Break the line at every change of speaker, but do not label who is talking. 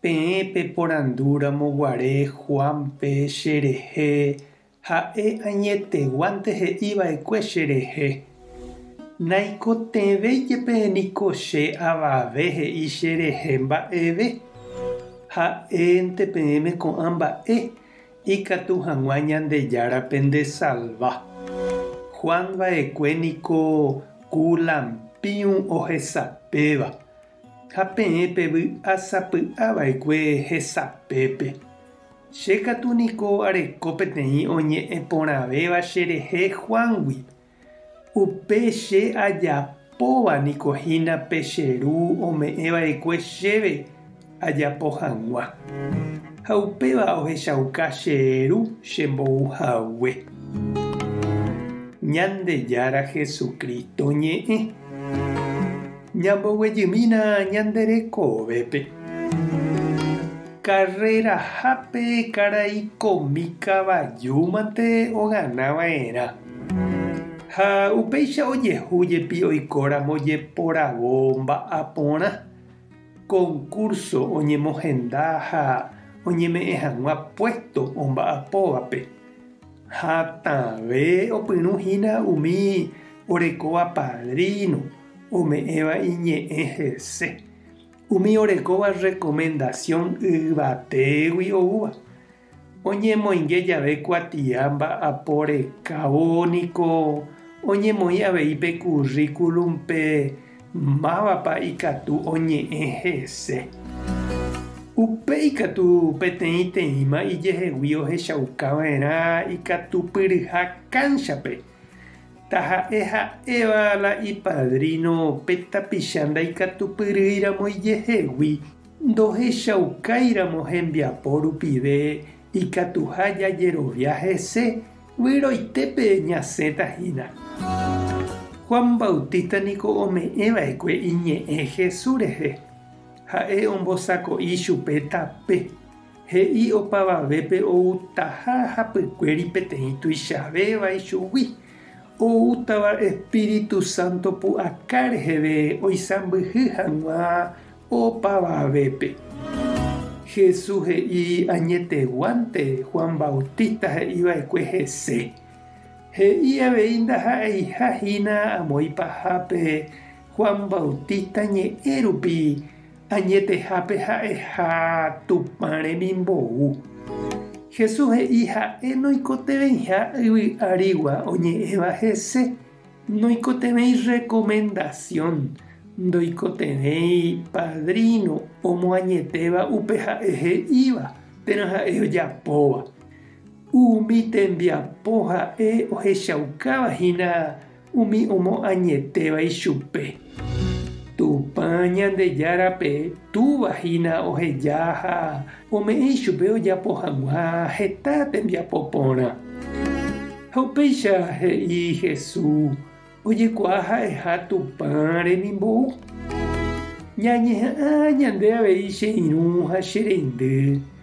Peẽ peporandúramo guare Juánpe cherehe, ha'e añeteguánte he'i va'ekue cherehe, Naikotevẽ jepe niko che avave he'i cherehe mba'eve. Ha'énte peẽme ko'ã mba'e, ikatu hag̃ua Ñandejárape ndesalva. Juan va'ekue niko ku lampiu ohesapéva. Ha peẽ pevy'asapy'a va'ekue hesapépe, Che katu niko areko peteĩ oñe'ẽ porãvéva cherehe Juángui. Upe che ajapóva niko hína pe che Ru ome'ẽ va'ekue chéve ajapo hag̃ua. Ha upéva ohechauka che Ru che mbou hague. Ñandejára Jesucristo ñe'ẽ. Ñamboguejymína ñande rekovépe. Karrerahápe karai komi kavajúmante ogana va'erã. Ha upéicha ojehu jepi oikóramo jeporavo mba'aporã, concurso oñemohenda ha oñeme'ẽ hag̃ua puesto omba'apóvape. Hatãve opyrũ hína umi orekóva padrino. ome'ẽva iñe'ẽ hese, umi orekóva rrekomendasión yvatégui oúva. Oñemoinge jave kuatia mba'apo rekávo niko oñemoĩ avei pe kurríkulumpe mávapa ikatu oñe'ẽ hese. Upéi katu peteĩteĩma ijehegui ohechaukava'erã ikatupyryha kánchape. Taha'e ha'éva la ipadríno pe tapicha ndaikatupyryíramo ijehegui, ndohechaukáiramo hembiapo rupive ikatuha jajerovia hese, vyroitépe ñasẽta hína. Juan Bautista niko ome'ẽ va'ekue iñe'ẽ Jesús rehe. Ha'e ombosako'i chupe tape. He'i opavavépe outaha hapykuéri peteĩ tuichavéva ichugui, oútava Espíritu Santo pu'aka reheve oisãmbyhy hag̃ua opavavépe. Jesús he'i añeteguánte Juan Bautista he'iva'ekue hese. He'i avei ndaha'eiha hína amoĩ pahápe Juan Bautista ñe'ẽ rupi, Añetehápe ha'eha Tupã remimbou. Jesús he'i ha'e noikotevẽiha yvy árigua oñe'ẽva hese, noikotevẽi rekomendasión, ndoikotevẽi padríno omoañetéva upe ha'e he'íva térã ha'e ojapóva. Umi tembiapo ha'e ohechaukáva hína Umi omoañetéva ichupe. Tupã Ñandejárape Túva hína oheja ha ome'ẽ ichupe ojapo hag̃ua heta tembiapo porã. Ha upéicha he'i Jesús ojekuaa ha'eha Tupã remimbou. Ñañeha'ã ñande avei che irũ ha che reindy.